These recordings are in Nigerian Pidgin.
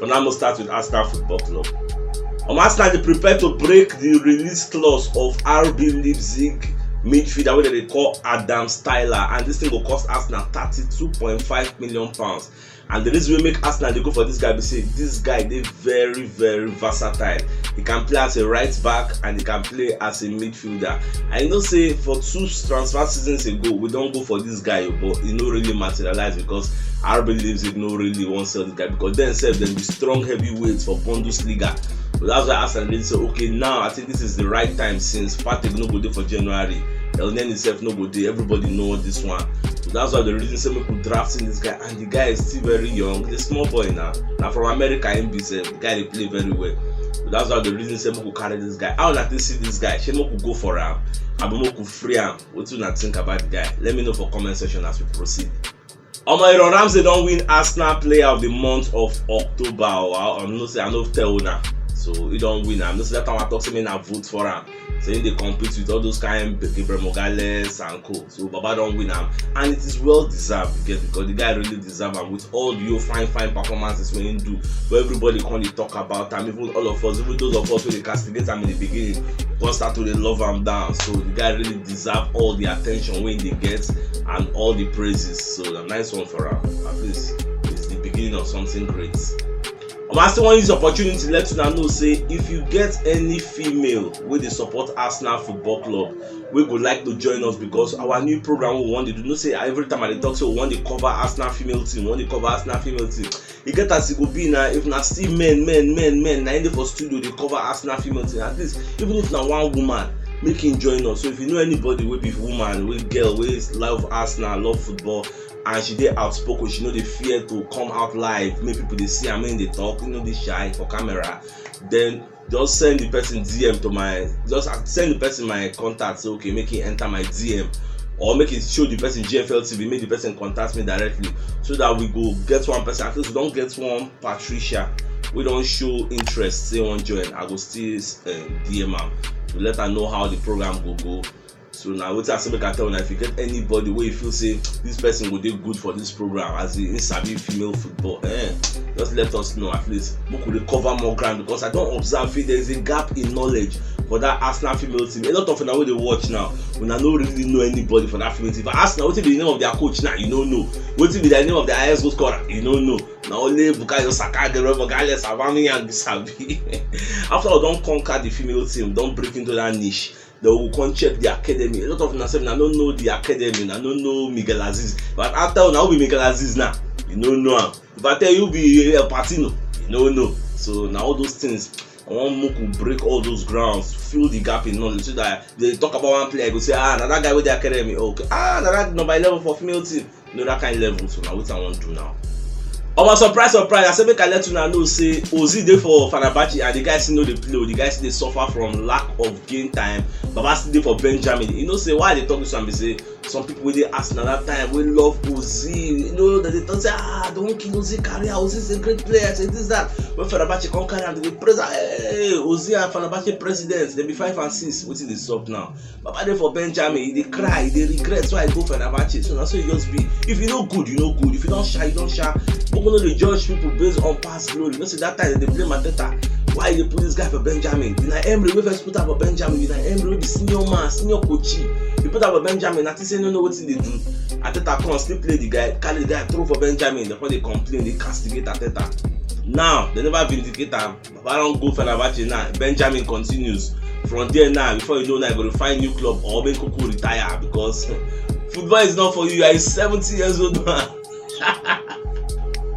But now we'll start with Arsenal Football Club. Um, Arsenal they prepare to break the release clause of RB Leipzig midfielder wey dem dey call Adam Styler and this thing go cost Arsenal thirty-two point five million pounds and the reason wey make Arsenal dey go for this guy be say this guy dey very very versatile he can play as a right back and he can play as a midfielder and you know say for two transfer seasons ago we don go for this this guy o but e no really materialize because RB Leipzig no really wan sell this guy because dem sef dem be strong heavyweights for Bundesliga so that's why Arsenal really say okay now I think this is the right time since Partey no go dey for January Elneny sef no go dey everybody know this one so that's why the reason say make we draft in this guy and the guy is still very young he's a small boy now na from America him be sef the guy dey play very well so that's why the reason say make we carry this guy how una take see this guy shey make we go for am abi make we free am Wetin una think about the guy? Let me know for comment section as we proceed. Omo Aaron Ramsey don win Arsenal Player of the Month of October o. I I know say I no tell una. So he don win am. I know say that time I talk say make na vote for am. Say he dey compete with all those kind Gabriel Mogales and co. So Baba don win am and it is well deserved you get because the guy really deserve am with all the your fine fine performances wey him do wey everybody come dey talk about am even all of us even those of us wey dey castigate am in the beginning come start to dey love am down so the guy really deserve all the attention wey he dey get and all the praises so na nice one for am at least it's the beginning of something great. Omo I still wan use the opportunity let una know say if you get any female wey dey support Arsenal football club wey go like to join us because our new program we wan dey do you know say every time i dey talk say we wan dey cover arsenal female team we wan dey cover arsenal female team e get as e go be na if na still men men men men na im dey for studio dey cover arsenal female team at least even if na one woman make him join us so if you know anybody wey be woman wey girl wey love arsenal love football and she dey outspoken she no dey fear to come out live make people dey see am make him dey talk him no dey shy for camera then just send the person dm to my just send the person my contact say okay make he enter my dm or make he show the person gfl tv make the person contact me directly so that we go get one person at least we don get one patricia wey don show interest say wan join i go still uh, dm am to let her know how the program go go So na wetin I say make I tell una if you get anybody wey you feel say this person go dey good for this program as in sabi female football eh just let us know at least make we dey cover more ground because I don observe say there is a gap in knowledge for that Arsenal female team a lot of una wey dey watch now una no really know anybody for that female team for Arsenal wetin be the name of their coach now you no know wetin be the name of their highest goal scorer you no know na only Bukayo Saka Gabriel Magalhaes Aubameyang sabi after we don conquer the female team don break into that niche dey go come check the academy a lot of una sef una no know the academy una no know Miguel Azeez if I ask tell una who be Miguel Azeez now you no know am if I tell you who be El Patino you no know so na all those things I want make we break all those grounds fill the gap in knowledge so that if dem talk about one player you go say ah na that guy wey dey academy okay ah na that number eleven for female team you know that kind level so na wetin i wan do now omo surprise surprise i say make i let una know say ozil dey for fenerbahce and the guy still no dey play o the guy still dey suffer from lack of game time baba still dey for benjamin you know say why i dey talk this one be say some people wey dey arsenal that time wey love ozil you know dem dey talk say ah don kill ozil career ozil is a great player say this that when fenerbahce come carry am dem dey praise am hey ozil and fenerbahce president dem be five and six wetin dey sup now Baba dey for Benjamin, he dey cry, he dey regret why he go Fenerbahce. So na so e just be. If you no good, you no good. If you don sha, you don sha. Make we no dey judge people based on past glory. You know say that time dem dey blame Arteta. Why you dey put this guy for Benjamin? Unai Emery wey first put am for Benjamin. Unai Emery wey be senior man, senior coach. You put am for Benjamin, na think say you no know wetin you dey do. Arteta come still play the guy, carry the guy throw for Benjamin. Dem come dey complain, dey castigate Arteta. Now, dem never vindicate am. Baba don go Fenerbahce now. Benjamin continues. From there now, before you know now, you go to find new club or make Kuku retire because football is not for you. You are a 70 years old man.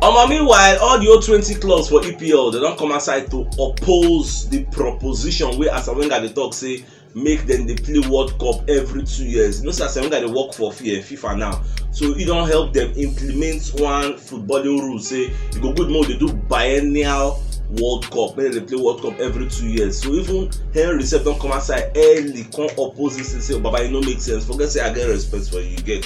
Omo meanwhile, all the old 20 clubs for EPL, they don come outside to oppose the proposition wey Arsene Wenger dey talk say make dem dey play world cup every two years you know say asamoah dey work for eh, fifa now so e don help dem implement one footballing rule say e go good make we dey do biennial world cup make dem dey play world cup every two years so even henry sef don come outside early come oppose dis thing say baba e no make sense forget say i get respect for you you get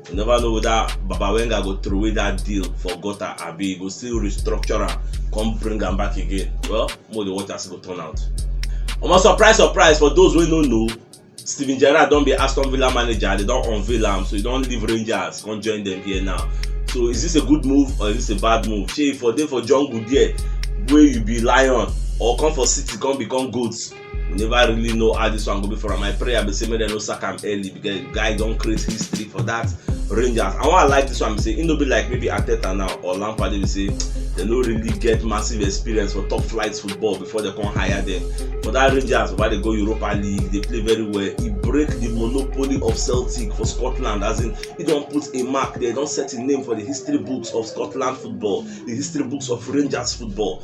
you never know whether baba wenga go throw away that deal for gutter abi he go still restructure am come bring am back again well mo dey watch as e go turn out omo surprise surprise for those wey no know steven gerrard don be aston villa manager they don unveil am so he don leave rangers come join them here now so is this a good move or is this a bad move shey for dey for jungle there wey you be lion or come for city come become goat we never really know how this one go be for am my prayer be say make dem no sack am early because guy don create history for that rangers and why i like this one be say e no be like maybe ateta now or lampard dey be say dem no really get massive experience for top flight football before dem come hire dem for that rangers baba dey go europa league dey play very well e break the monopoly of celtic for scotland as in e don put a mark there don set im name for the history books of scotland football the history books of rangers football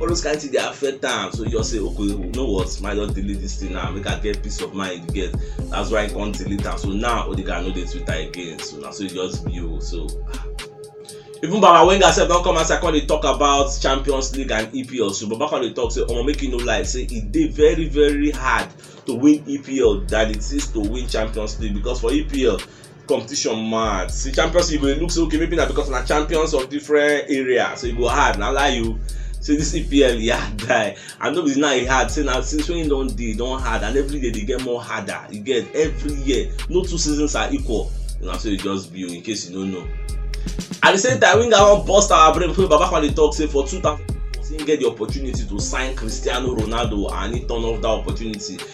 all those kind things dey affect am so you just say okay you know what ma just delete this thing now make i get peace of mind you get that's why i come delete am so now odegaard no dey twitter again so na so e just be o so even baba wenger sef don come outside come dey talk about champions league and epl so baba come dey talk say omo make you no lie say e dey very very hard to win epl than it is to win champions league because for epl competition mad see champions league go dey look say okay maybe na because na champions of different areas so e go hard na lie you say this epl e hard die and no be now e hard say na since when e don dey e don hard and every year dey get more harder you get every year no two seasons are equal na so e just be o in case you no know at the same time winger wan burst our brain because baba kwale talk say for two thousand he get the opportunity to sign cristiano ronaldo and he turn off that opportunity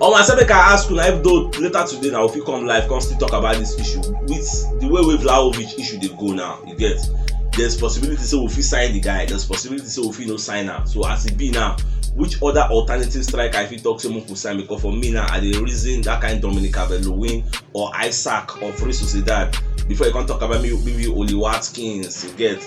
omo i say make i ask una if though later today na we fit come live come still talk about this issue with the way wey Vlahovic issue dey go now you get there's possibility say we fit sign the guy there's possibility say we fit no sign am so as e be now which other alternative striker i fit talk say make we sign because for me now i dey reason that kind Dominic Calvert-Lewin or Isaac of Real Sociedad before you come talk about maybe maybe Oli Watkins you get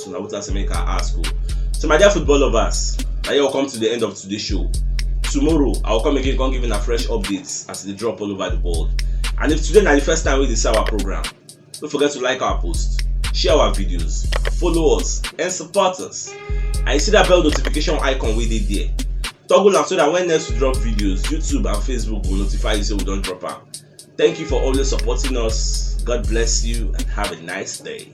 na wetin I say make I ask o. So my dear football lovers, na here we come to the end of today's show. Tomorrow, I will come again come give una fresh updates as e dey drop all over the world. And if today na the first time wey you dey see our program, no forget to like our post, share our videos, follow us and support us. And you see that bell notification icon wey dey there. Toggle am so that when next we drop videos, YouTube and Facebook go notify you say we don drop am. Thank you for always supporting us. God bless you and have a nice day.